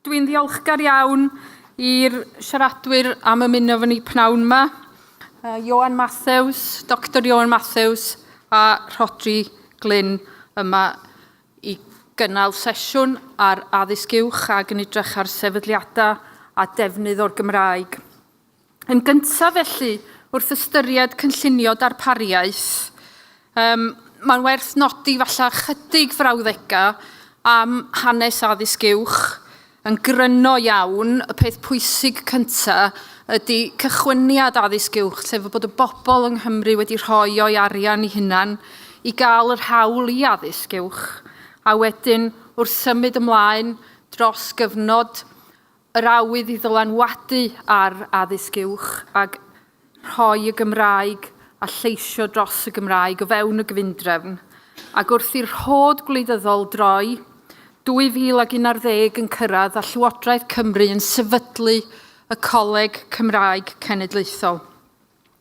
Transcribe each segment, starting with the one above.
Dwi'n ddiolchgar iawn i'r siaradwyr am ymuno fy ni pnawn yma. Uh, Johan Matthews, Dr Johan Matthews a Rhodri Glyn yma i gynnal sesiwn ar addysg uwch ac yn edrych ar sefydliadau a defnydd o'r Gymraeg. Yn gyntaf felly, wrth ystyried cynllunio darpariaeth, um, mae'n werth nodi falle chydig frawddegau am hanes addysg uwch. Yn gryno iawn, y peth pwysig cyntaf ydy cychwyniad addysg uwch, sef bod y bobl yng Nghymru wedi rhoi o'i arian i hunan i gael yr hawl i addysg uwch, a wedyn wrth symud ymlaen dros gyfnod Yr awydd i ddylanwadu ar addysg uwch ac rhoi y Gymraeg a lleisio dros y Gymraeg o fewn y gyfundrefn, ac wrth i'r rhod gwleidyddol droi 2011 yn cyrraedd a Llywodraeth Cymru yn sefydlu y Coleg Cymraeg Cenedlaethol.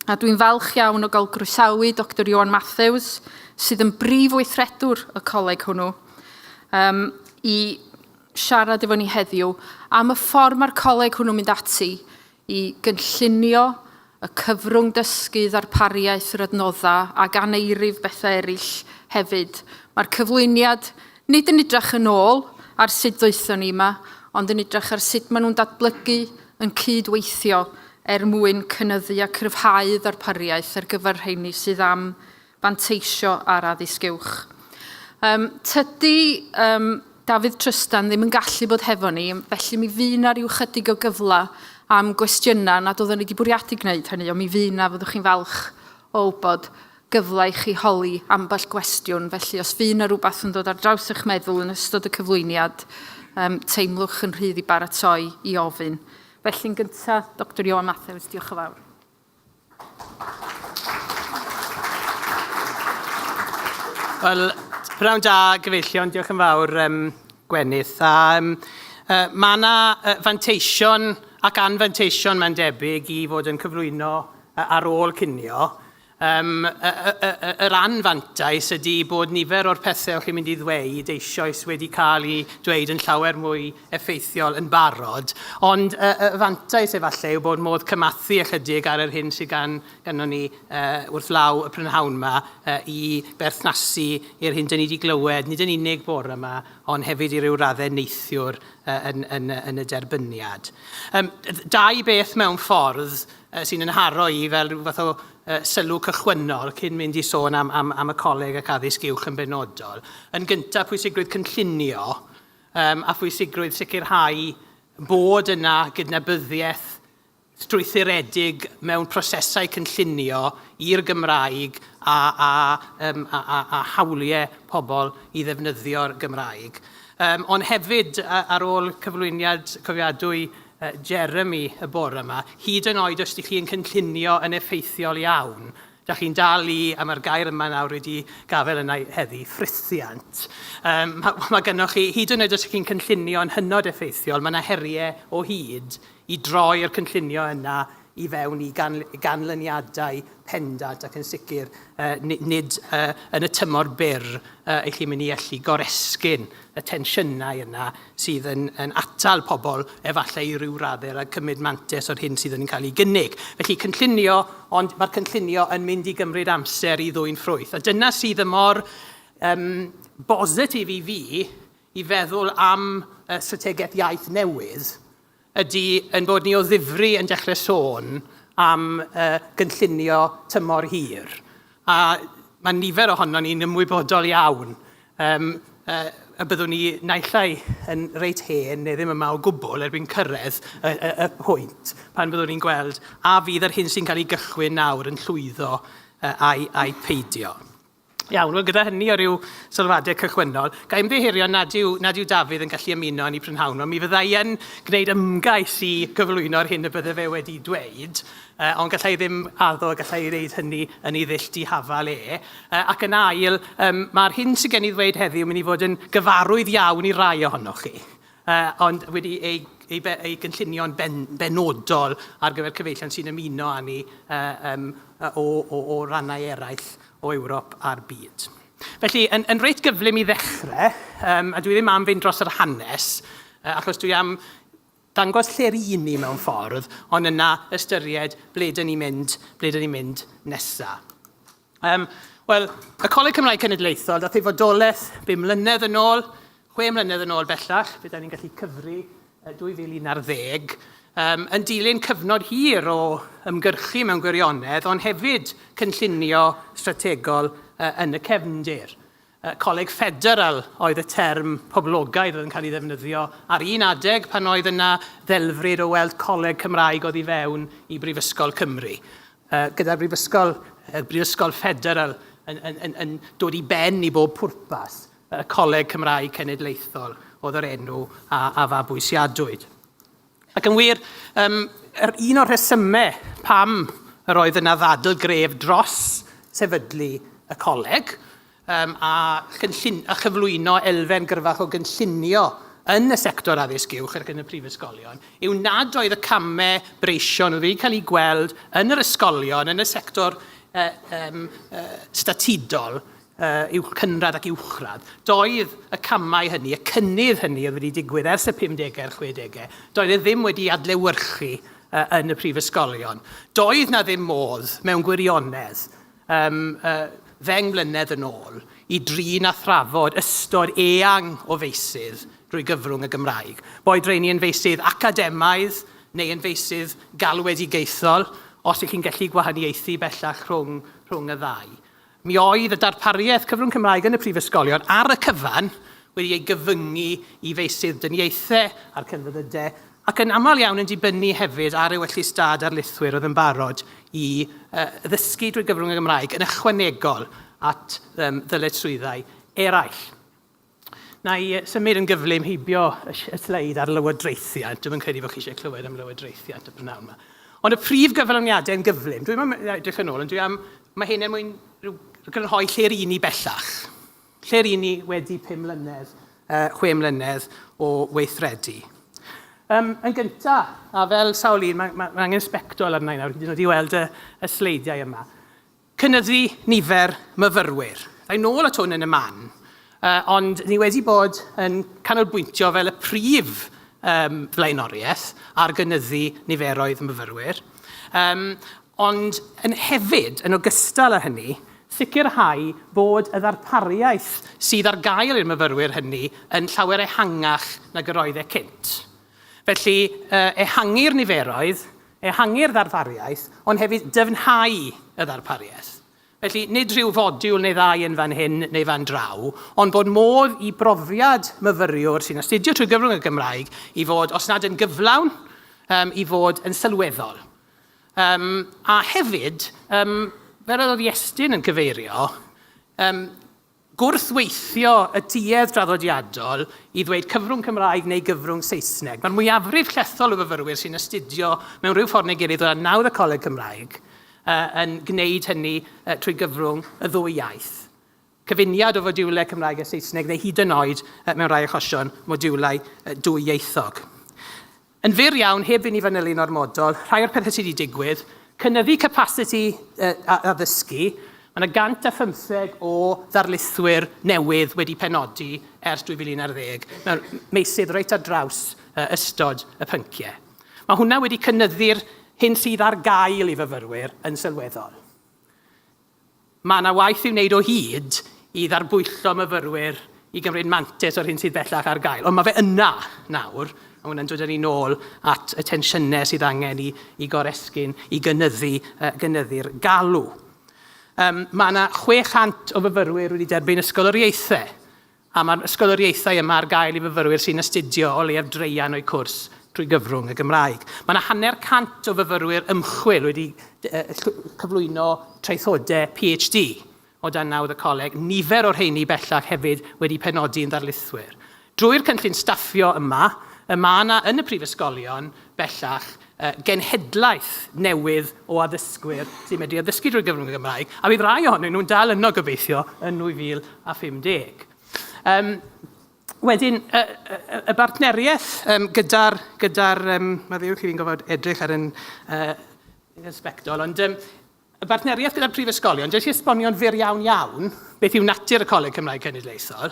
a dwi'n falch iawn o gael groesawu Doctor Ioan Mathews, sydd yn brif weithredwr y coleg hwnnw, um, i siarad efo ni heddiw am y ffordd mae'r coleg hwnnw'n mynd ati i gynllunio y cyfrwng dysgu, ddarpariaeth, yr adnoddau ac aneirif bethau eraill hefyd. Mae'r cyflwyniad Nid yn edrach yn ôl ar sut ddoethon ni yma, ond yn edrach ar sut maen nhw'n datblygu, yn cyd-weithio er mwyn cynyddu a cryfhau ddarpariaeth ar gyfer rheini sydd am fanteisio ar addysg uwch. Yym, tydi yym, Dafydd Trystan ddim yn gallu bod hefo ni, felly mi fu 'na ryw chydig o gyfle am gwestiynau nad oeddwn i wedi bwriadu gwneud hynny, ond mi fu 'na, fyddwch chi'n falch o wybod. gyfle i chi holi ambell gwestiwn, felly os fydd yna rhywbeth yn dod ar draws eich meddwl yn ystod y cyflwyniad, um, teimlwch yn rhydd i baratoi i ofyn. Felly'n gyntaf, Dr Ioan Mathews, diolch yn fawr. Wel, pnawn da, gyfeillion, diolch yn fawr, um, Gwenith. A, um, uh, mae yna uh, fanteision ac anfanteision mae'n debyg i fod yn cyflwyno uh, ar ôl cinio. Yym, y, y, y, y, yr anfantais ydy bod nifer o'r pethau o'ch chi'n mynd i ddweud eisioes wedi cael eu dweud yn llawer mwy effeithiol yn barod, ond y, y fantais efallai yw bod modd cymathu ychydig ar yr hyn sydd gan, ganddon ni uh, wrth law y prynhawn yma uh, i berthnasu i'r hyn dyn ni wedi glywed, nid yn unig bore yma, ond hefyd i ryw raddau neithiwr uh, yn, yn, yn y derbyniad. Um, dau beth mewn ffordd sy'n yn haro i fel rhyw fath o uh, sylw cychwynnol cyn mynd i sôn am, am, am y coleg ac addysg uwch yn benodol. Yn gyntaf, pwysigrwydd cynllunio um, a phwysigrwydd sicrhau bod yna gydnabyddiaeth strwythuredig mewn prosesau cynllunio i'r Gymraeg a, a, um, a, a, a hawliau pobl i ddefnyddio'r Gymraeg. Um, ond hefyd, ar ôl cyflwyniad cofiadwy Jeremy y bore yma, hyd yn oed os ydych chi yn cynllunio yn effeithiol iawn, da chi'n dal i, a mae'r gair yma nawr wedi gafael yna heddi, ffrithiant. Um, mae, mae gennych chi, hyd yn oed os ydych chi'n cynllunio yn hynod effeithiol, mae yna heriau o hyd i droi'r cynllunio yna i fewn i ganlyniadau pendant ac yn sicr nid yn y tymor byr y chi'n mynd i allu goresgyn y tensiynau yna sydd yn atal pobl efallai i ryw raddau rhag cymryd mantais o'r hyn sydd yn cael ei gynnig. Felly cynllunio, ond mae'r cynllunio yn mynd i gymryd amser i ddwyn ffrwyth. A dyna sydd y mor um, bositif i fi i feddwl am uh, strategaeth iaith newydd ydy ein bod ni o ddifri yn dechrau sôn am uh, gynllunio tymor hir. A mae nifer ohono ni'n ymwybodol iawn um, uh, y byddwn ni naillai yn reit hen neu ddim yma o gwbl erbyn cyrraedd y, y, y pwynt pan byddwn ni'n gweld a fydd yr hyn sy'n cael ei gychwyn nawr yn llwyddo uh, a'i, a'i peidio. Iawn, wel gyda hynny o ryw sylwadau cychwynnol, ga i ymddiheurio nad yw, nad yw Dafydd yn gallu ymuno yn ei prynhawn, ond mi fydda i yn gwneud ymgais i gyflwyno'r hyn y bydde fe wedi dweud, uh, ond gallai ddim addo, gallai ei wneud hynny yn ei ddull dihafal e. Uh, ac yn ail, um, mae'r hyn sydd gen i ddweud heddiw yn mynd i fod yn gyfarwydd iawn i rai ohonoch chi. uh, ond wedi ei, ei, ei gynllunio'n ben, benodol ar gyfer cyfeillion sy'n ymuno â ni uh, um, o, o, o rannau eraill o Ewrop a'r byd. Felly, yn, yn reit gyflym i ddechrau, um, a dwi ddim am fynd dros yr hanes, uh, achos dwi am dangos lle'r un ni mewn ffordd, ond yna ystyried ble dyn ni'n mynd, ble dyn ni'n mynd nesaf. Um, Wel, y Coleg Cymraeg Cenedlaethol, dath ei fodolaeth bum mlynedd yn ôl, chwe mlynedd yn ôl bellach, byddai'n ni'n gallu cyfri 2011, um, yn dilyn cyfnod hir o ymgyrchu mewn gwirionedd, ond hefyd cynllunio strategol uh, yn y cefndir. Uh, coleg ffederal oedd y term poblogaidd oedd yn cael ei ddefnyddio ar un adeg pan oedd yna ddelfryd o weld coleg Cymraeg oedd i fewn i Brifysgol Cymru. Uh, gyda'r Brifysgol, y Brifysgol Ffederal yn, yn, yn, yn dod i ben i bob pwrpas, y Coleg Cymraeg Cenedlaethol oedd yr enw a, a fabwysiadwyd. Ac yn wir, um, er un o'r rhesymau pam yr oedd yna ddadl gref dros sefydlu y coleg, Yym, a chynllun- a chyflwyno elfen gryfach o gynllunio yn y sector addysg uwch ac yn y prifysgolion, yw nad oedd y camau breision oedd wedi cael eu gweld yn yr ysgolion, yn y sector yy yym yy statudol, yy uwch cynradd ac uwchradd, doedd y camau hynny, y cynnydd hynny oedd wedi digwydd ers y 50au a'r 60au, doedd e ddim wedi adlewyrchu yy yn y prifysgolion. Doedd 'na ddim modd, mewn gwirionedd, Ym ddeng mlynedd yn ôl, y drin a thrafod ystod eang o feysydd drwy gyfrwng y Gymraeg, boed rheiny yn feysydd academaidd neu yn feysydd galwedigaethol, os y'ch chi'n gallu gwahaniaethu bellach rhwng rhwng y ddau. Mi oedd y darpariaeth cyfrwng Cymraeg yn y prifysgolion ar y cyfan wedi ei gyfyngu i feysydd dyniaethau a'r celfyddydau, ac yn aml iawn yn dibynnu hefyd ar ewyllys da darlithwyr oedd yn barod i ddysgu drwy gyfrwng y Gymraeg yn ychwanegol at ddyletswyddau eraill. Na i symud yn gyflym heibio y sleid ar lywodraethiant. Dwi'm yn credu bod chi eisiau clywed am lywodraethiant y prynawn yma. Ond y prif gyflawniadau yn gyflym. Dwi'n edrych yn ôl, ond dwi am... Mae hyn er mwyn rhyw grynhoi lle ry'n ni bellach. Lle ry'n ni wedi pum mlynedd, uh, chwe mlynedd o weithredu? Um, yn gyntaf, a fel sawl un, mae ma, ma angen sbectol arna i nawr, hyd yn oed i weld y, y sleidiau yma. Cynyddu nifer myfyrwyr. Rhaid nôl at hwn yn y man, uh, ond ni wedi bod yn canolbwyntio fel y prif um, flaenoriaeth ar gynyddu niferoedd myfyrwyr. Um, ond yn hefyd, yn ogystal â hynny, sicrhau bod y ddarpariaeth sydd ar gael i'r myfyrwyr hynny yn llawer ehangach nag yr oedd e cynt. Felly, ehangu'r niferoedd, ehangu'r ddarpariaeth, ond hefyd dyfnhau y ddarpariaeth. Felly, nid rhyw fodiwl neu ddau yn fan hyn neu fan draw, ond bod modd i brofiad myfyriwr sy'n astudio trwy gyfrwng y Gymraeg i fod, os nad yn gyflawn, i fod yn sylweddol. Yym, a hefyd, yym, fel yr oedd Iestyn yn cyfeirio, yym, gwrthweithio y duedd draddodiadol i ddweud cyfrwng Cymraeg neu gyfrwng Saesneg. Mae'r mwyafrif llethol o fyfyrwyr sy'n astudio mewn rhyw ffordd neu gilydd o dan nawdd y Coleg Cymraeg yn gwneud hynny trwy gyfrwng y ddwy iaith. cyfuniad o fodiwlau Cymraeg a Saesneg neu hyd yn oed, mewn rhai achosion, modiwlau dwyieithog. Yn fyr iawn, heb i ni fanylu'n ormodol, rhai o'r pethau sydd wedi digwydd, cynyddu capasiti addysgu, mae yna 115 o ddarlithwyr newydd wedi penodi ers 2011 mewn meysydd reit ar draws ystod y pynciau. Mae hwnna wedi cynyddu'r hyn sydd ar gael i fyfyrwyr yn sylweddol. Mae yna waith i'w wneud o hyd i ddarbwyllo myfyrwyr i gymryd mantais o'r hyn sydd bellach ar gael, ond mae fe yna nawr, a hwnna'n dod â ni nôl at y tensiynau sydd angen i, i goresgyn, i gynyddu, uh, gynyddu'r galw. Um, mae yna 600 o fyfyrwyr wedi derbyn ysgoloriaethau A mae'r ysgoloriaethau yma ar gael i fyfyrwyr sy'n astudio o leiaf draean o'u cwrs trwy gyfrwng y Gymraeg. Mae yna hanner cant o fyfyrwyr ymchwil wedi cyflwyno traethodau PhD o dan nawdd y coleg, nifer o'r rheiny bellach hefyd wedi penodi'n ddarlithwyr. Drwy'r cynllun staffio yma, y mae yna yn y prifysgolion bellach genhedlaeth newydd o addysgwyr sy'n medru addysgu drwy gyfrwng y Gymraeg, a bydd rai ohonyn nhw'n dal yno gobeithio yn 2050. Um, Wedyn, y, y, y bartneriaeth um, gyda'r, gyda um, mae ddiw chi fi'n gofod edrych ar yn uh, ysbectol, ond um, y bartneriaeth gyda'r prifysgolion, jyst i esbonio'n fyr iawn iawn beth yw natur y Coleg Cymraeg Cenedlaethol.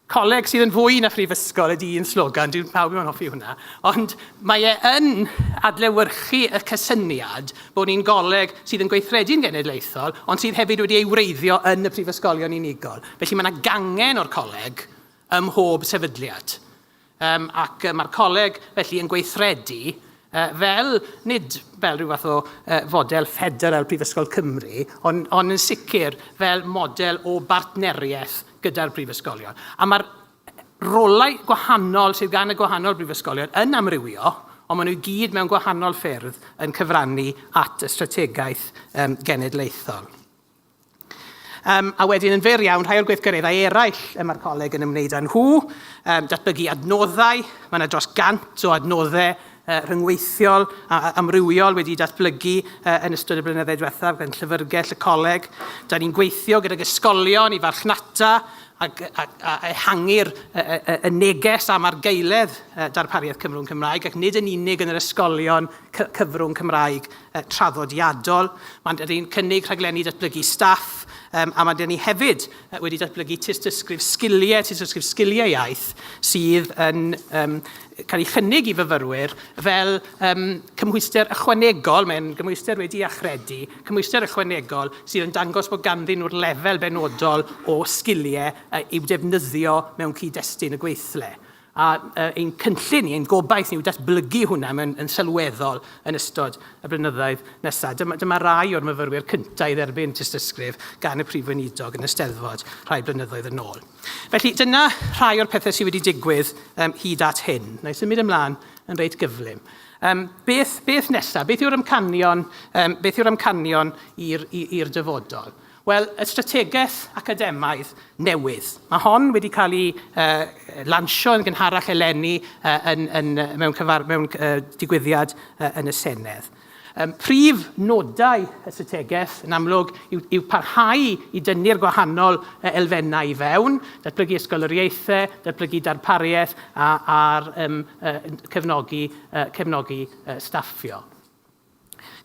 Coleg sydd yn fwy na phrifysgol ydy un slogan, dwi'n pawb yn hoffi hwnna, ond mae e yn adlewyrchu y cysyniad bod ni'n goleg sydd yn gweithredu'n genedlaethol, ond sydd hefyd wedi ei wreiddio yn y prifysgolion unigol. Felly mae yna gangen o'r coleg ym mhob sefydliad. Yym, ac yy mae'r coleg felly yn gweithredu yy fel, nid fel rhyw fath o yy fodel ffederal Prifysgol Cymru, ond ond yn sicr fel model o bartneriaeth gyda'r prifysgolion. A mae'r rolau gwahanol sydd gan y gwahanol brifysgolion yn amrywio, ond maen nhw i gyd mewn gwahanol ffyrdd yn cyfrannu at y strategaeth yym genedlaethol. Um, a wedyn yn fer iawn, rhai o'r gweithgareddau eraill y mae'r coleg yn ymwneud â nhw, um, datblygu adnoddau, mae yna dros gant o adnoddau uh, rhyngweithiol a, a amrywiol wedi datblygu uh, yn ystod y blynyddoedd diwethaf gan llyfrgell y coleg. Da ni'n gweithio gydag ysgolion i farchnata a, a, a ehangu'r y neges am argaeledd darpariaeth cyfrwng Cymraeg ac nid yn unig yn yr ysgolion cyfrwng Cymraeg traddodiadol. Mae'n dyn ni'n cynnig rhaglenni datblygu staff um, a mae'n dyn ni hefyd uh, wedi datblygu tystysgrif sgiliau, tystysgrif sgiliau iaith sydd yn um, cael ei chynnig i fyfyrwyr fel um, cymhwyster ychwanegol, mae'n gymhwyster wedi achredu, cymhwyster ychwanegol sydd yn dangos bod ganddyn nhw'r lefel benodol o sgiliau uh, i'w defnyddio mewn cyd-destun y gweithle. A ein cynllun ni, ein gobaith ni yw datblygu hwnna mewn yn sylweddol yn ystod y blynyddoedd nesaf. Dyma, dyma rai o'r myfyrwyr cyntaf i dderbyn tystysgrif gan y Prif Weinidog yn y Steddfod rhai blynyddoedd yn ôl. Felly dyna rhai o'r pethau sydd wedi digwydd um, hyd at hyn. Na i symud ymlaen yn reit gyflym. Um, beth, beth nesaf? Beth yw'r amcanion, um, beth yw'r amcanion i'r dyfodol? Wel, y strategaeth academaidd newydd. Mae hon wedi cael ei uh, lansio yn gynharach eleni uh, yn, yn, mewn, cyfar, mewn uh, digwyddiad uh, yn y Senedd. Um, prif nodau y strategaeth yn amlwg yw, yw parhau i dynnu'r gwahanol elfennau i fewn, datblygu ysgoloriaethau, datblygu darpariaeth a'r um, uh, cefnogi, uh, cefnogi uh, staffio.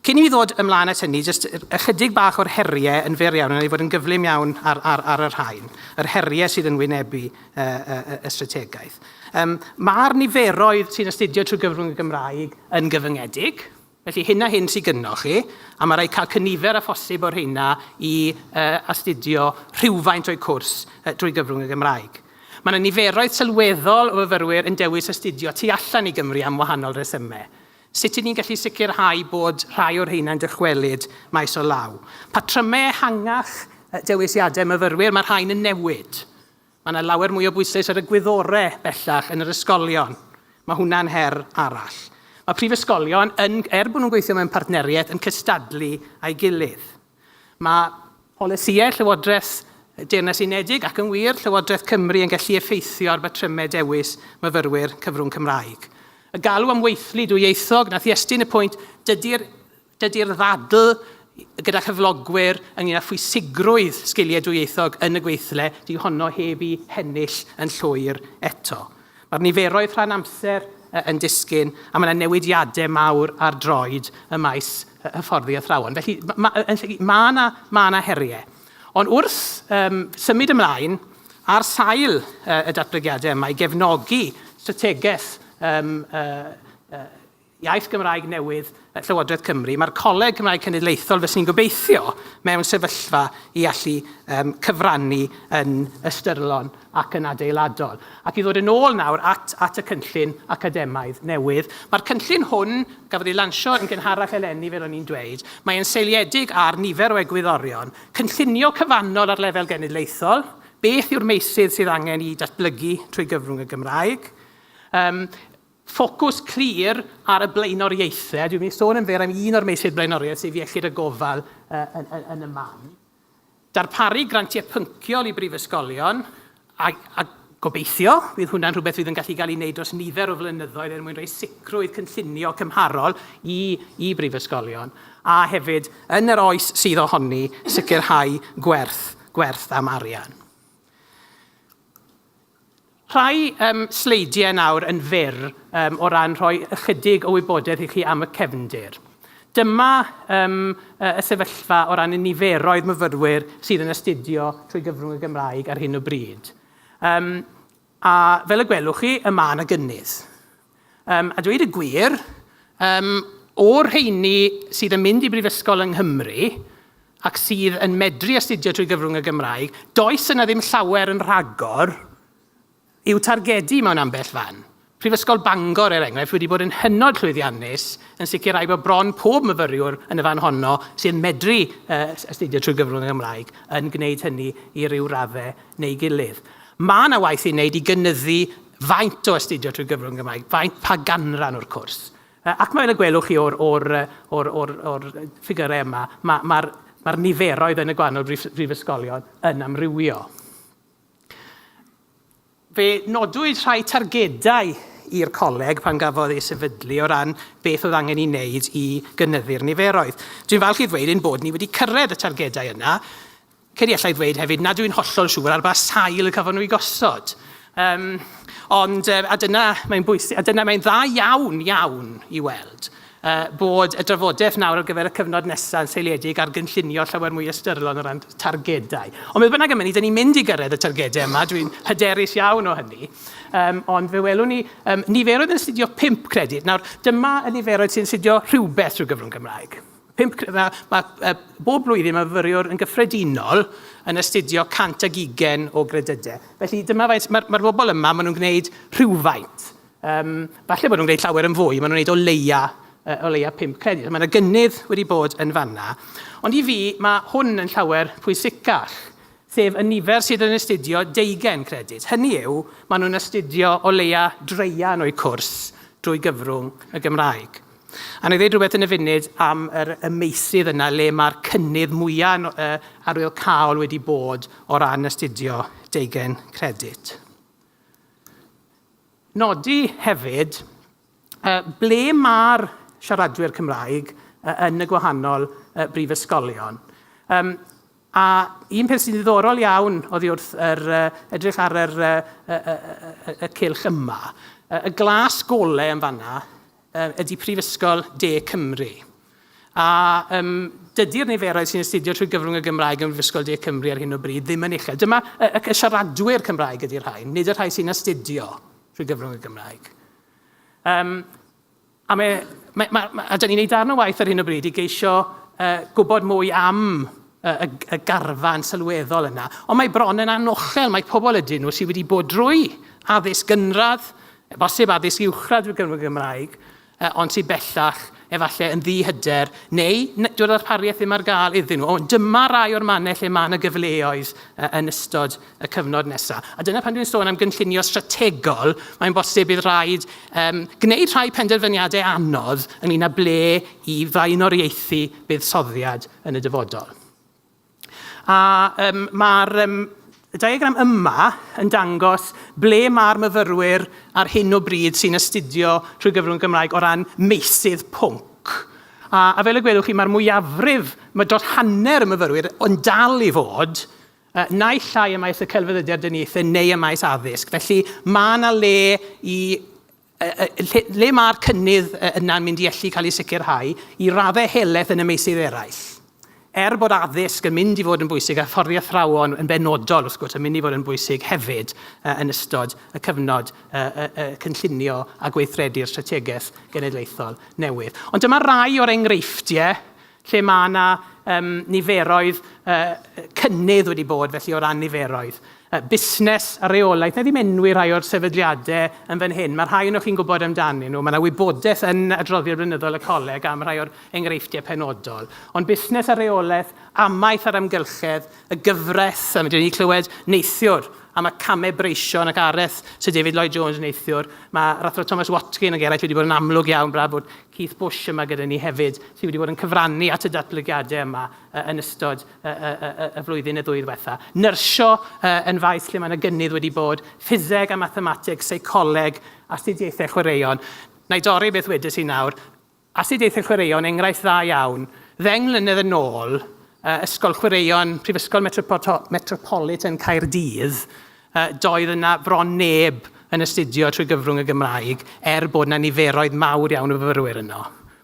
Cyn i mi ddod ymlaen at hynny, jyst ychydig bach o'r heriau yn fyr iawn, a wna i fod yn gyflym iawn ar, ar, ar y rhain, yr heriau sydd yn wynebu uh, uh, uh, y strategaeth. Um, Mae'r niferoedd sy'n astudio trwy gyfrwng y Gymraeg yn gyfyngedig, Felly hyn a hyn sy'n gynnoch chi, a mae rhaid cael cynifer a phosib o'r hynna i uh, astudio rhywfaint o'i cwrs uh, drwy gyfrwng y Gymraeg. Mae yna niferoedd sylweddol o fyfyrwyr yn dewis astudio tu allan i Gymru am wahanol resymau. Sut ŷd ni'n gallu sicrhau bod rhai o'r rheinau'n dychwelyd maes o law? Patrymau ehangach dewisiadau myfyrwyr, mae rhain yn newid. Mae yna lawer mwy o bwysleis ar y gwyddore bellach yn yr ysgolion. Mae hwnna'n her arall. Mae prifysgolion, yn, er bod nhw'n gweithio mewn partneriaeth, yn cystadlu â'i gilydd. Mae polisïau Llywodraeth y Deyrnas Unedig, ac yn wir, Llywodraeth Cymru yn gallu effeithio ar batrymau dewis myfyrwyr cyfrwng Cymraeg. Y galw am weithlu dwyieithog, na thestun y pwynt, dydy'r dydy ddadl gyda chyflogwyr ynglyn â phwysigrwydd sgiliau dwyieithog yn y gweithle, dyw honno heb i hennill yn llwyr eto. Mae'r niferoedd rhan amser yn disgyn a mae yna newidiadau mawr ar droed ym maes hyfforddi athrawon. Felly mae yna ma ma heriau. Ond wrth um, symud ymlaen, ar sail uh, y datblygiadau yma i gefnogi strategaeth um, uh, uh, Iaith Gymraeg newydd yn Llywodraeth Cymru, mae'r Coleg Cymraeg Cenedlaethol, fyswn i'n gobeithio, mewn sefyllfa i allu um, cyfrannu yn ystyrlon ac yn adeiladol. Ac i ddod yn ôl nawr at, at y cynllun academaidd newydd, mae'r cynllun hwn, gafodd ei lansio yn gynharach eleni fel o'n i'n dweud, mae'n seiliedig ar nifer o egwyddorion, cynllunio cyfannol ar lefel genedlaethol, beth yw'r meysydd sydd angen i datblygu trwy gyfrwng y Gymraeg, um, Ffocws clir ar y blaenoriaethau. Dwi'n mynd i sôn yn fer am un o'r meysydd blaenoriaeth, sef iechyd a gofal yn y man. Darparu grantiau pynciol i brifysgolion, a, a gobeithio, bydd hwnna'n rhywbeth fydd yn gallu cael ei wneud dros nifer o flynyddoedd er mwyn rhoi sicrwydd cynllunio cymharol i, i brifysgolion, a hefyd, yn yr oes sydd ohoni, sicrhau gwerth, gwerth am arian. Rhai yym sleidiau nawr yn fyr yym o ran rhoi ychydig o wybodaeth i chi am y cefndir. Dyma yym yy y sefyllfa o ran y niferoedd myfyrwyr sydd yn astudio trwy gyfrwng y Gymraeg ar hyn o bryd. Yym a fel y gwelwch chi, y ma' 'na gynnydd. Um, a dweud y gwir, um, o'r rheini sydd yn mynd i brifysgol yng Nghymru ac sydd yn medru astudio trwy gyfrwng y Gymraeg, does yna ddim llawer yn rhagor i'w targedu mewn ambell fan. Prifysgol Bangor, er enghraifft, wedi bod yn hynod llwyddiannus yn sicrhau bod bron pob myfyriwr yn y fan honno sy'n medru uh, astudio trwy gyfrwng y Gymraeg yn gwneud hynny i ryw raddau neu gilydd. Mae yna waith i wneud i gynyddu Faint o astudio trwy gyfrwng y Gymraeg? Faint, pa ganran o'r cwrs? Ac fel y gwelwch chi o'r, o'r, o'r, o'r, o'r ffigurau yma, mae'r ma, ma, ma niferoedd yn y gwahanol brif, brifysgolion yn amrywio. Fe nodwyd rhai targedau i'r coleg pan gafodd ei sefydlu o ran beth oedd angen ei wneud i gynyddu'r niferoedd. Dwi'n falch i ddweud ein bod ni wedi cyrraedd y targedau yna. Credu allai ddweud hefyd nad yw'n hollol siŵr ar ba sail y cafon nhw'i gosod. Um, ond, uh, a dyna mae'n bwysig, a dyna mae'n dda iawn, iawn i weld uh, bod y drafodaeth nawr ar gyfer y cyfnod nesaf yn seiliedig ar gynllunio llawer mwy ystyrlon o ran targedau. Ond beth bynnag am hynny, dyn ni'n mynd i gyrraedd y targedau yma, dwi'n hyderus iawn o hynny. Um, ond fe welwn ni um, niferoedd yn astudio 5 credyd. Nawr, dyma y niferoedd sy'n astudio rhywbeth trwy gyfrwng Gymraeg. Pump, mae, mae e, bob blwyddyn mae fyfyriwr yn gyffredinol yn astudio 100 ag ugen o gredydau. Felly dyma faint, mae'r mae bobl yma, maen nhw'n gwneud rhywfaint. Um, falle bod nhw'n gwneud llawer yn fwy, maen nhw'n gwneud o leia, uh, o leia pump credyd. Mae yna gynnydd wedi bod yn fanna. Ond i fi, mae hwn yn llawer pwysicach sef y nifer sydd yn astudio deugen credyd. Hynny yw, maen nhw'n astudio o leia dreian o'u cwrs drwy gyfrwng y Gymraeg. A wna i ddweud rhywbeth yn y funud am yr, y meysydd yna le mae'r cynnydd mwyaf yn, uh, arwyl cael wedi bod o ran astudio deugen credit. Nodi hefyd uh, ble mae'r siaradwyr Cymraeg uh, yn y gwahanol uh, brifysgolion. Um, a un peth sy'n ddiddorol iawn oddi wrth yr, uh, edrych ar yr, uh, uh, uh, uh, y cylch yma, uh, y glas gole yn fanna, ydy Prifysgol De Cymru. A um, dydy'r niferoedd sy'n astudio trwy gyfrwng y Gymraeg yn Prifysgol De Cymru ar hyn o bryd ddim yn uchel. Dyma y, y, y siaradwyr Cymraeg ydy'r rhain, nid y rhai sy'n astudio trwy gyfrwng y Gymraeg. Um, a mae, mae, mae, mae, a dyn ni'n ei darn o waith ar hyn o bryd i geisio uh, gwybod mwy am y, y garfan sylweddol yna. Ond mae bron yn anochel, mae pobl ydyn nhw sydd wedi bod drwy addysg gynradd, O bosib addysg uwchradd drwy gyfrwng y Gymraeg, ond sydd bellach efallai yn ddi-hyder, neu dyw'r ddarpariaeth ddim ar gael iddyn nhw. Ond dyma rai o'r mannau lle mae yna gyfleoedd yn ystod y cyfnod nesaf. A dyna pan dwi'n sôn am gynllunio strategol, mae'n bosib bydd rhaid um, gwneud rhai penderfyniadau anodd ynglyn â ble i flaenoriaethu buddsoddiad yn y dyfodol. A um, mae'r um, diagram yma yn dangos ble mae'r myfyrwyr ar hyn o bryd sy'n astudio trwy gyfrwng Gymraeg o ran meysydd pwnc A, a fel y gwelwch chi, mae'r mwyafrif, mae dros hanner y myfyrwyr yn dal i fod uh, naill llai y maes y celfyddydau deniaethau neu y maes addysg. Felly mae yna le i lle, lle mae'r cynnydd yna'n mynd i allu cael ei sicrhau i raddau helaeth yn y meysydd eraill? Er bod addysg yn mynd i fod yn bwysig a fforddi athrawon yn benodol, wrth gwrs, yn mynd i fod yn bwysig hefyd uh, yn ystod y cyfnod uh, uh, uh, cynllunio a gweithredu'r strategaeth genedlaethol newydd. Ond dyma rai o'r enghreifftiau lle mae yna um, niferoedd uh, cynnydd wedi bod, felly o ran niferoedd. Uh, busnes a reolaeth, na ddim enwi rhai o'r sefydliadau yn fan hyn, mae rhai o'n chi'n gwybod amdanyn nhw, mae yna wybodaeth yn adroddiad blynyddol y coleg am rhai o'r enghreifftiau penodol. Ond busnes a reolaeth, amaeth a'r amgylchedd, y gyfraith, a mae dyn ni clywed neithiwr a mae camau breision ac areth Sir David Lloyd Jones yn neithiwr. Mae Rathro Thomas Watkin ac eraill wedi bod yn amlwg iawn braf bod Keith Bush yma gyda ni hefyd, sydd wedi bod yn cyfrannu at y datblygiadau yma yn ystod y flwyddyn neu ddwy ddiwetha'. Nyrsio yn faes lle mae yna gynnydd wedi bod, ffiseg a mathemateg, seicoleg, astudiaethau chwaraeon. Na i dorri beth wedes i nawr, astudiaethau chwaraeon, enghraifft dda iawn. Ddeng mlynedd yn ôl, Ysgol Chwaraeon Prifysgol Metropolitan Caerdydd Doedd yna bron neb yn astudio trwy gyfrwng y Gymraeg, er bod yna niferoedd mawr iawn o fyfyrwyr yno.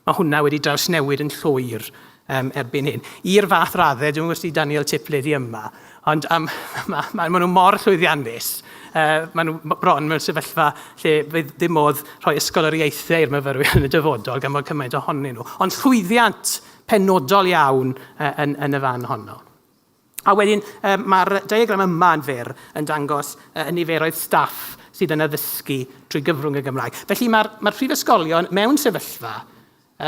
Mae hwnna wedi drawsnewid yn llwyr um, erbyn hyn. I'r fath raddau, dwi'n gwybod Daniel Tipley di yma, ond um, mae ma, ma nhw mor llwyddiannus Uh, maen nhw bron mewn sefyllfa lle fydd dim modd rhoi ysgol yr ieithau i'r myfyrwyr yn y dyfodol gan bod cymaint ohonyn nhw. Ond llwyddiant penodol iawn uh, yn, yn y fan honno. A wedyn, um, mae'r diagram yma yn fyr yn dangos uh, y niferoedd staff sydd yn addysgu trwy gyfrwng y Gymraeg. Felly mae'r mae prifysgolion mewn sefyllfa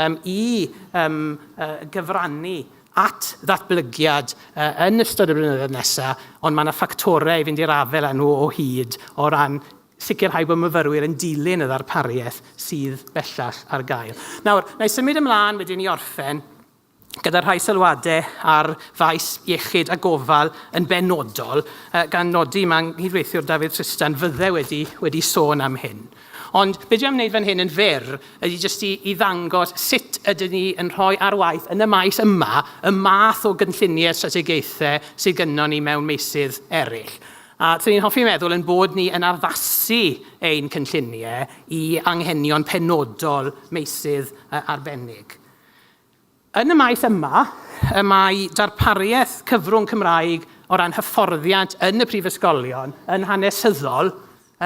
um, i um, uh, gyfrannu at ddatblygiad uh, yn ystod y blynyddoedd nesaf, ond mae yna ffactorau i fynd i'r afel â nhw o hyd o ran sicrhau bod myfyrwyr yn dilyn y ddarpariaeth sydd bellach ar gael. Nawr, na i symud ymlaen wedyn i orffen gyda rhai sylwadau ar faes iechyd a gofal yn benodol, gan nodi, mae nghydweithiwr Dafydd Tristan fydde wedi, wedi sôn am hyn. Ond be dwi am wneud fan hyn yn fyr ydy jyst i, i ddangos sut ydyn ni yn rhoi ar waith yn y maes yma y math o gynlluniau strategaethau sydd gynnon ni mewn meysydd eraill. A dyn ni'n hoffi meddwl yn bod ni yn addasu ein cynlluniau i anghenion penodol meysydd arbennig. Yn y maes yma, y mae darpariaeth cyfrwng Cymraeg o ran hyfforddiant yn y prifysgolion yn hanesyddol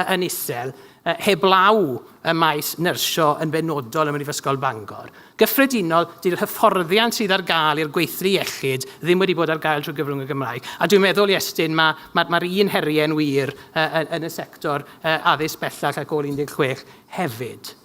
yn isel, heblaw y maes nyrsio yn benodol ym Mhrifysgol Bangor. Gyffredinol, dy'r hyfforddiant sydd ar gael i'r gweithlu iechyd ddim wedi bod ar gael trwy gyfrwng y Gymraeg. A dwi'n meddwl, Iestyn, mae'r ma, ma un heriau'n wir yn y sector addysg bellach ac ôl 16 hefyd.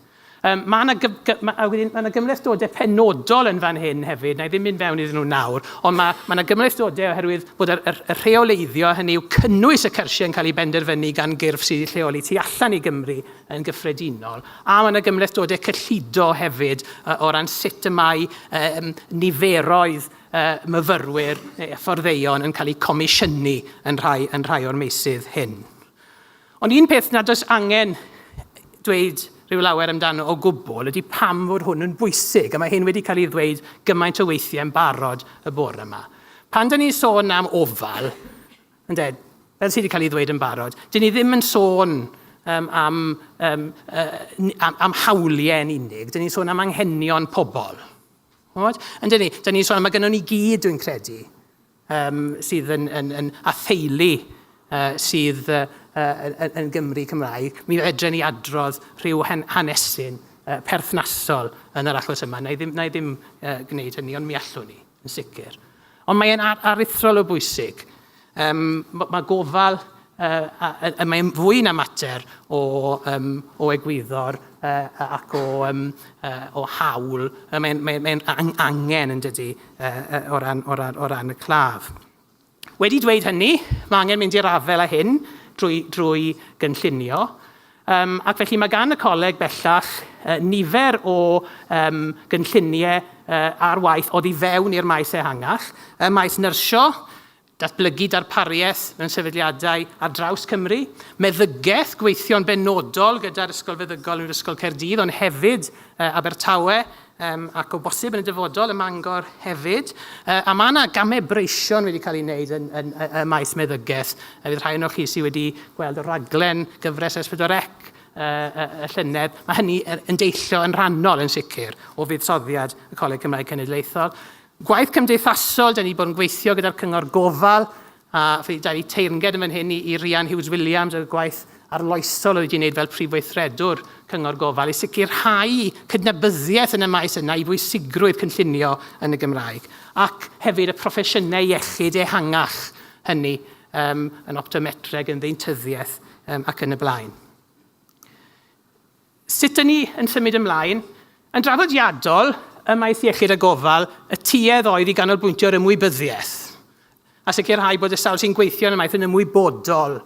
Yym, mae 'na gyf- gy- ma', a wedyn, ma' 'na gymhlethdodau penodol yn fan hyn hefyd, wna i ddim mynd fewn iddyn nhw nawr, ond ma' ma' 'na gymhlethdodau oherwydd bod yr yr y rheoleiddio, hynny yw cynnwys y cyrsiau yn cael ei benderfynu gan gyrff sydd eu lleoli tu allan i Gymru yn gyffredinol, a ma' 'na gymhlethdodau cyllido hefyd yy o ran sut y mae yym niferoedd yy myfyrwyr neu hyfforddeion yn cael eu comisiynu yn rhai yn rhai o'r meysydd hyn. Ond un peth nad oes angen dweud rhyw lawer amdano o gwbl ydy pam fod hwn yn bwysig, a mae hyn wedi cael ei ddweud gymaint o weithiau yn barod y bore yma. Pan da ni'n sôn am ofal, ynde, fel sydd wedi cael ei ddweud yn barod, dyn ni ddim yn sôn um, am, um, uh, am, am hawliau yn unig, dyn ni'n sôn am anghenion pobl. Ond, ynde ni, dyn ni'n sôn am, mae gennym ni gyd, dwi'n credu, um, sydd yn, yn, yn atheulu uh, sydd uh, yn, yn Gymru Cymraeg, mi fedren ni adrodd rhyw hanesyn uh, perthnasol yn yr achos yma. Na i ddim, na i ddim uh, gwneud hynny, ond mi allwn ni, yn sicr. Ond mae'n ar aruthrol o bwysig. Um, mae gofal Mae'n fwy na mater o egwyddor ac o hawl. Mae'n angen, yn dydy, o ran y claf. Wedi dweud hynny, mae angen mynd i'r afael â hyn drwy gynllunio, ac felly mae gan y Coleg bellach nifer o gynlluniau ar waith oddi fewn i'r maes ehangach, y maes nyrsio, Datblygu darpariaeth mewn sefydliadau ar draws Cymru, meddygaeth, gweithio'n benodol gyda'r Ysgol Feddygol yn yr Ysgol Caerdydd ond hefyd Abertawe ac o bosib yn y dyfodol ym Mangor hefyd. A mae yna gamau breision wedi cael ei wneud yn, yn, yn, ym maes meddygaeth. Fydd rhai ohonoch chi sydd wedi gweld y raglen gyfres S4C y llynedd, mae hynny yn deillio yn rhannol yn sicr o fuddsoddiad y Coleg Cymraeg Cenedlaethol. Gwaith cymdeithasol, da ni wedi bod yn gweithio gyda'r Cyngor Gofal, a fe da ni teyrnged yn fan hyn i, i Rhian Hughes Williams ar y gwaith arloesol oedd wedi wneud fel Prif Weithredwr Cyngor Gofal i sicrhau cydnabyddiaeth yn y maes yna i bwysigrwydd cynllunio yn y Gymraeg ac hefyd y proffesiynau iechyd ehangach hynny um, yn optometreg, yn ddeintyddiaeth um, ac yn y blaen. Sut dŷn ni yn symud ymlaen? Yn draddodiadol, ym maes iechyd a gofal, y tuedd oedd i ganolbwyntio ar ymwybyddiaeth a sicrhau bod y sawl sy'n gweithio yn y maes yn ymwybodol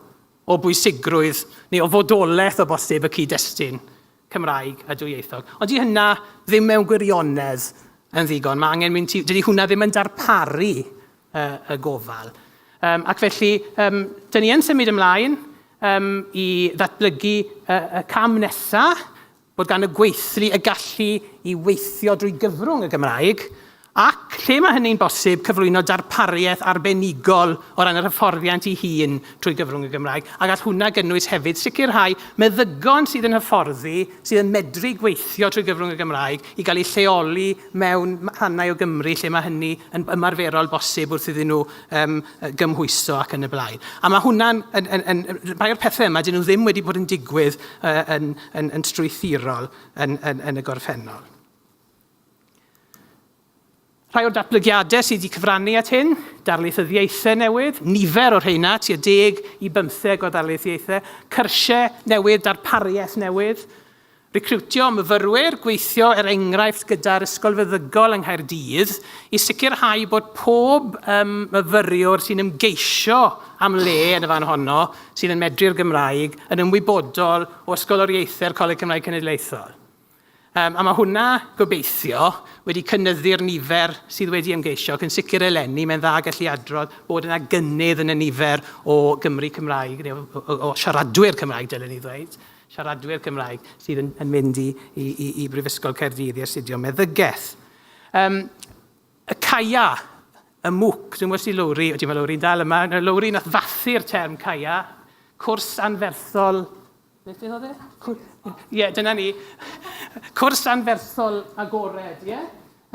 o bwysigrwydd neu o fodolaeth o bosib y cyd-destun Cymraeg a dwyieithog. Ond dydy hynna ddim mewn gwirionedd yn ddigon. Mae angen mynd ti... Dydy hwnna ddim yn darparu uh, y gofal. Um, ac felly, um, dyn ni yn symud ymlaen um, i ddatblygu uh, y cam nesaf, bod gan y gweithlu y gallu i weithio drwy gyfrwng y Gymraeg, ac lle mae hynny'n bosib cyflwyno darpariaeth arbenigol o ran yr hyfforddiant i hun trwy gyfrwng y Gymraeg, ac all hwnna gynnwys hefyd sicrhau meddygon sydd yn hyfforddi, sydd yn medru gweithio trwy gyfrwng y Gymraeg, i gael eu lleoli mewn rhannau o Gymru lle mae hynny yn ymarferol bosib wrth iddyn nhw um, gymhwyso ac yn y blaen. A mae hwnna'n, yn, yn, yn, rhai o'r pethau yma, dyn nhw ddim wedi bod yn digwydd uh, yn, yn, yn strwythurol yn, yn, yn y gorffennol. Rhai o'r datblygiadau sydd wedi cyfrannu at hyn, darlithyddiaethau newydd, nifer o'r rheina, tua deg i bymtheg o ddarlithiaethau, cyrsiau newydd, darpariaeth newydd, Recriwtio myfyrwyr, gweithio er enghraifft gyda'r Ysgol Feddygol yng Nghaerdydd i sicrhau bod pob um, myfyriwr sy'n ymgeisio am le yn y fan honno sydd yn medru'r Gymraeg yn ymwybodol o ysgoloriaethau'r Coleg Cymraeg Cenedlaethol. Um, a mae hwnna, gobeithio, wedi cynnyddu'r nifer sydd wedi ymgeisio, ac yn sicr eleni, mae'n dda gallu adrodd bod yna gynnydd yn y nifer o Gymru Cymraeg, neu o, o, o siaradwyr Cymraeg, dylen ni ddweud, siaradwyr Cymraeg sydd yn, yn mynd i, i, i, i Brifysgol Caerdydd i astudio meddygaeth. Um, y caia, y mwc, dwi'n gwybod si Lowri, o ti'n meddwl Lowri'n dal yma, Lowri nath fathu'r term caia, cwrs anferthol Beth oedd e? Ie, yeah, dyna ni. Cwrs anferthol agored, ie? Yeah?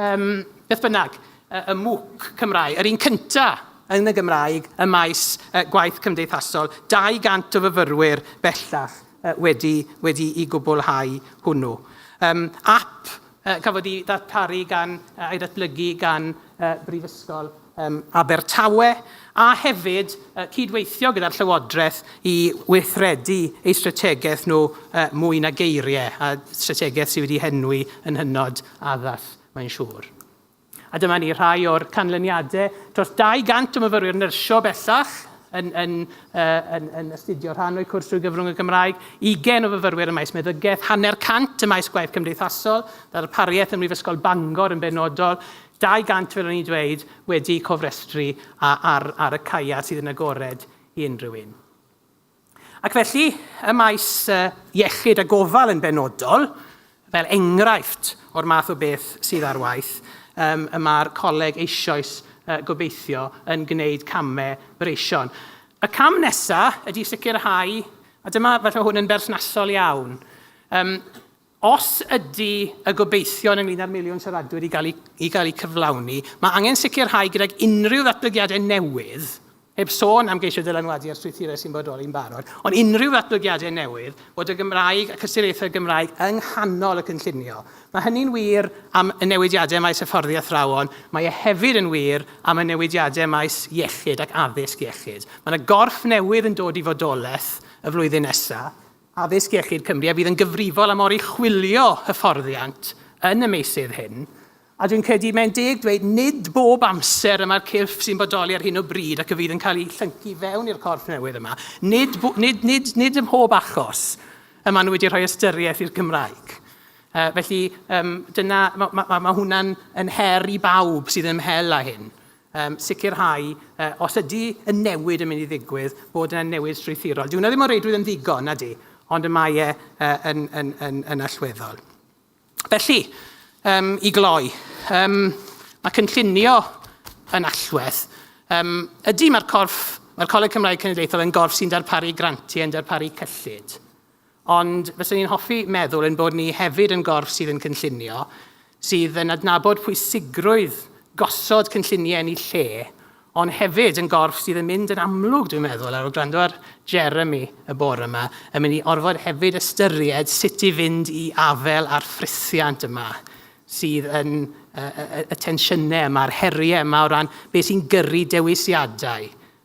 Yym, beth bynnag, y y MOOC Cymraeg, yr un cynta' yn y Gymraeg ym maes yy gwaith cymdeithasol, 200 o fyfyrwyr bellach yy wedi wedi i gwblhau hwnnw. Yym, ap yy cafodd 'i ddarparu gan yy a'i ddatblygu gan yy Brifysgol yn Abertawe, a hefyd cydweithio gyda'r Llywodraeth i weithredu eu strategaeth nhw mwy na geiriau, a strategaeth sydd wedi henwi yn hynod addas, mae'n siŵr. A dyma ni rhai o'r canlyniadau. Dros 200 o myfyrwyr nyrsio bellach yn, yn, yn, yn astudio rhan o'u cwrs drwy gyfrwng y Gymraeg, 20 o fyfyrwyr ym maes meddygaeth, hanner cant ym maes gwaith cymdeithasol, ddarpariaeth ym Mhrifysgol Bangor yn benodol, 200 fel o'n i'n dweud, wedi cofrestru ar y caeau sydd yn agored i unrhyw un. Ac felly, ym maes iechyd a gofal yn benodol, fel enghraifft o'r math o beth sydd ar waith, y mae'r coleg eisioes gobeithio yn gwneud camau breision. Y cam nesaf ydy sicrhau, a dyma falle hwn yn berthnasol iawn, Os ydy y gobeithion ynglŷn â'r miliwn siaradwyr i gael eu, i gael eu cyflawni, mae angen sicrhau gydag unrhyw ddatblygiadau newydd, heb sôn am geisio dylanwadu ar strwythurau sy'n bodoli'n barod, ond unrhyw ddatblygiadau newydd, bod y Gymraeg ac ystyriaethau'r Gymraeg yng nghanol y cynllunio. Mae hynny'n wir am y newidiadau maes hyfforddi athrawon, mae e hefyd yn wir am y newidiadau maes iechyd ac addysg iechyd. Mae yna gorff newydd yn dod i fodolaeth y flwyddyn nesaf, Addysg Iechyd Cymru a fydd yn gyfrifol am oruchwylio hyfforddiant yn y meysydd hyn, a dwi'n credu mae'n deg dweud nid bob amser y mae'r cyrff sy'n bodoli ar hyn o bryd ac y fydd yn cael ei llyncu fewn i'r corff newydd yma, nid, nid, nid, nid ym mhob achos y maen nhw wedi rhoi ystyriaeth i'r Gymraeg. Uh, felly, um, dyna, mae ma, ma, ma hwnna'n yn her i bawb sydd yn ymhel â hyn. um, sicrhau, uh, os ydy y newid yn mynd i ddigwydd, bod yna newid strwythurol. Dwi'n ddim o reidrwydd yn ddigon, na di, ond y mae e uh, yn, yn, yn, yn allweddol. Felly, um, i gloi, um, mae cynllunio yn allwedd. Um, ydy mae'r corff, mae'r Coleg Cymraeg Cenedlaethol yn gorff sy'n darparu grantiau, yn darparu cyllid. Ond fyswn i'n hoffi meddwl ein bod ni hefyd yn gorff sydd yn cynllunio, sydd yn adnabod pwysigrwydd gosod cynlluniau yn eu lle, ond hefyd yn gorff sydd yn mynd yn amlwg, dwi'n meddwl, ar ôl gwrando ar Jeremy y bore yma, yn mynd i orfod hefyd ystyried sut i fynd i afael â'r ffrithiant yma sydd yn y, y, y, y tensiynau yma, a'r heriau yma o ran beth sy'n gyrru dewisiadau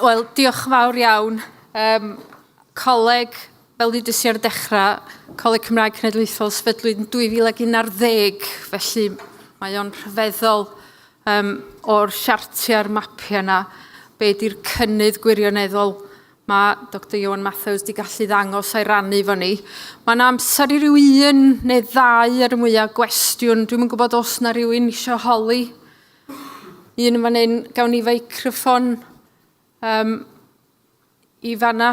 Wel, diolch yn fawr iawn. Um, coleg, fel ddudus i ar dechrau, Coleg Cymraeg Cenedlaethol sefydlwyd yn 2011, felly mae o'n rhyfeddol um, o'r siartiau'r mapiau yna, be di'r cynnydd gwirioneddol Mae Doctor Ioan Mathews di gallu ddangos a'i rannu fo ni. Mae yna amser i ryw un neu ddau ar y mwyaf gwestiwn. Dwi'n yn gwybod os na rhywun eisiau holi. Un yn fan hyn, gawn ni feicroffon um, i fanna.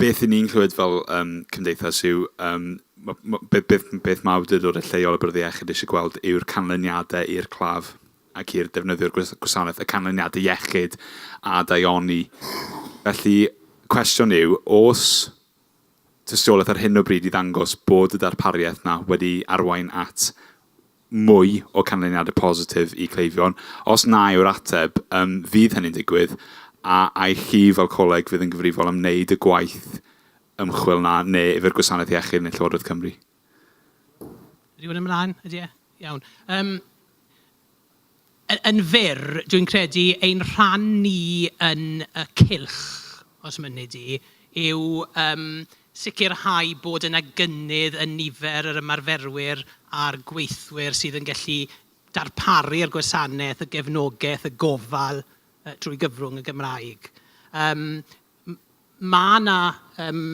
Beth 'yn ni'n clywed fel yym cymdeithas yw yym ma' ma' be' beth m- beth ma' awdurdode lleol y Bwrdd Iechyd isie gweld yw'r canlyniade i'r claf ac i'r defnyddiwr gwis- gwasanaeth, y canlyniade iechyd a daioni. Felly, cwestiwn yw, o's tystiolaeth ar hyn o bryd i ddangos bod y darpariaeth 'na wedi arwain at mwy o canlyniadau positif i cleifion, os na yw'r ateb ym, fydd hynny'n digwydd, a ai chi fel coleg fydd yn gyfrifol am wneud y gwaith ymchwil 'na, neu yfe'r Gwasanaeth Iechyd neu Llywodraeth Cymru? Rhywun ymlaen? Ydy e? Iawn. Yym. Yn fyr, dwi'n credu ein rhan ni yn y cylch, os mynni di, yw yym sicrhau bod yna gynnydd yn nifer yr ymarferwyr a'r gweithwyr sydd yn gallu darparu'r gwasanaeth, y gefnogaeth, y gofal drwy gyfrwng y Gymraeg. Yym m- mae 'na yym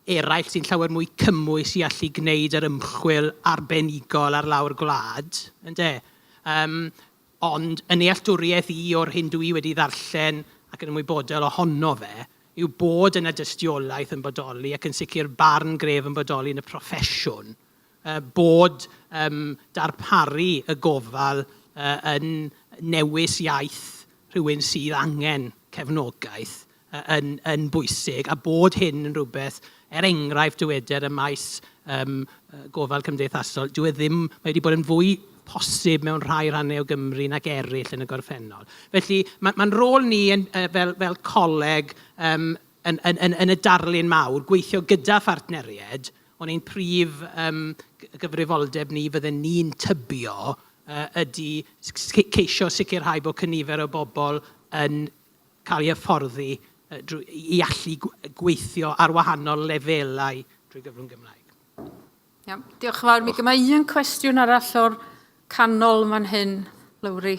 eraill sy'n llawer mwy cymwys i allu gwneud yr ymchwil arbenigol ar lawr gwlad, ynde. Yym, ond yn nealltwriaeth i o'r hyn dw i wedi ddarllen ac yn ymwybodol ohono fe, yw bod yna dystiolaeth yn bodoli ac yn sicr barn gref yn bodoli yn y proffesiwn yy bod yym darparu y gofal yy yn newis iaith rhywun sydd angen cefnogaeth yn, yn bwysig a bod hyn yn rhywbeth, er enghraifft dyweder ym maes yym gofal cymdeithasol, dyw e ddim, mae wedi bod yn fwy posib mewn rhai rhannau o Gymru nag eraill yn y gorffennol. Felly ma' ma'n rôl ni yn yy fel fel coleg yym yn yn yn yn y darlun mawr, gweithio gyda phartneriaid, ond ein prif yym gyfrifoldeb ni fydden ni'n tybio yy ydy s- s- ceisio sicrhau bod cynifer o bobl yn cael ei hyfforddi i allu gweithio ar wahanol lefelau drwy gyfrwng Gymraeg. Iawn, diolch yn fawr. Mi gyma un cwestiwn arall o'r canol yn fan hyn, Lowri.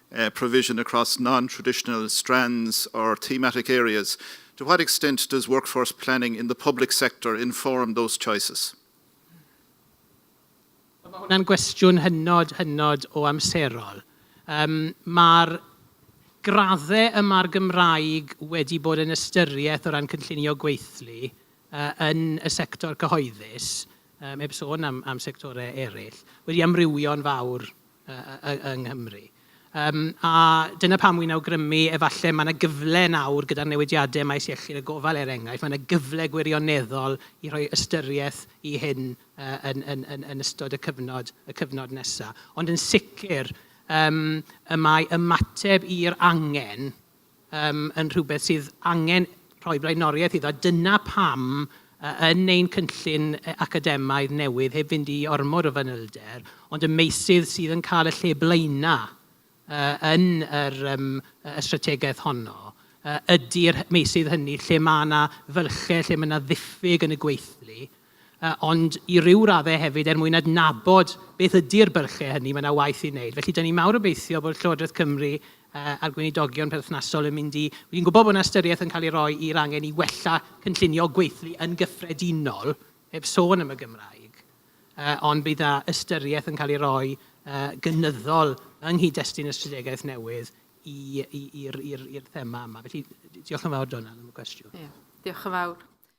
provision across non-traditional strands or thematic areas, to what extent does workforce planning in the public sector inform those choices? Mae hwnna'n gwestiwn hynod, hynod o amserol. Um, Mae'r graddau yma'r Gymraeg wedi bod yn ystyriaeth o ran cynllunio gweithlu uh, yn y sector cyhoeddus, um, heb sôn am, am sectorau eraill, wedi amrywio'n fawr yng Nghymru. Yym a dyna pam wi'n awgrymu efallai mae 'na gyfle nawr gyda'r newidiadau ym maes iechyd a gofal er enghraifft, mae 'na gyfle gwirioneddol i roi ystyriaeth i hyn yn ystod y cyfnod y cyfnod nesaf. Ond yn sicr yym y mae ymateb i'r angen um, yn rhywbeth sydd angen rhoi blaenoriaeth iddo. Dyna pam yn ein cynllun academaidd newydd, heb fynd i ormod o fanylder, ond y meysydd sydd yn cael y lle blaenau uh, yn yr, um, y strategaeth honno, uh, ydy'r meysydd hynny lle mae yna fylchau, lle mae yna ddiffyg yn y gweithlu, ond i ryw raddau hefyd er mwyn adnabod beth ydy'r bylchau hynny, mae yna waith i wneud. Felly, dan ni'n mawr obeithio bod Llywodraeth Cymru a'r gweinidogion perthnasol yn mynd i... Dwi'n gwybod bod yna ystyriaeth yn cael ei roi i'r angen i wella cynllunio gweithlu yn gyffredinol, heb sôn am y Gymraeg, ond bydd yna ystyriaeth yn cael ei roi gynyddol yng nghyd-destun y strategaeth newydd i'r thema yma. Felly, diolch yn fawr, Dona, am y cwestiwn. Ie, diolch yn fawr.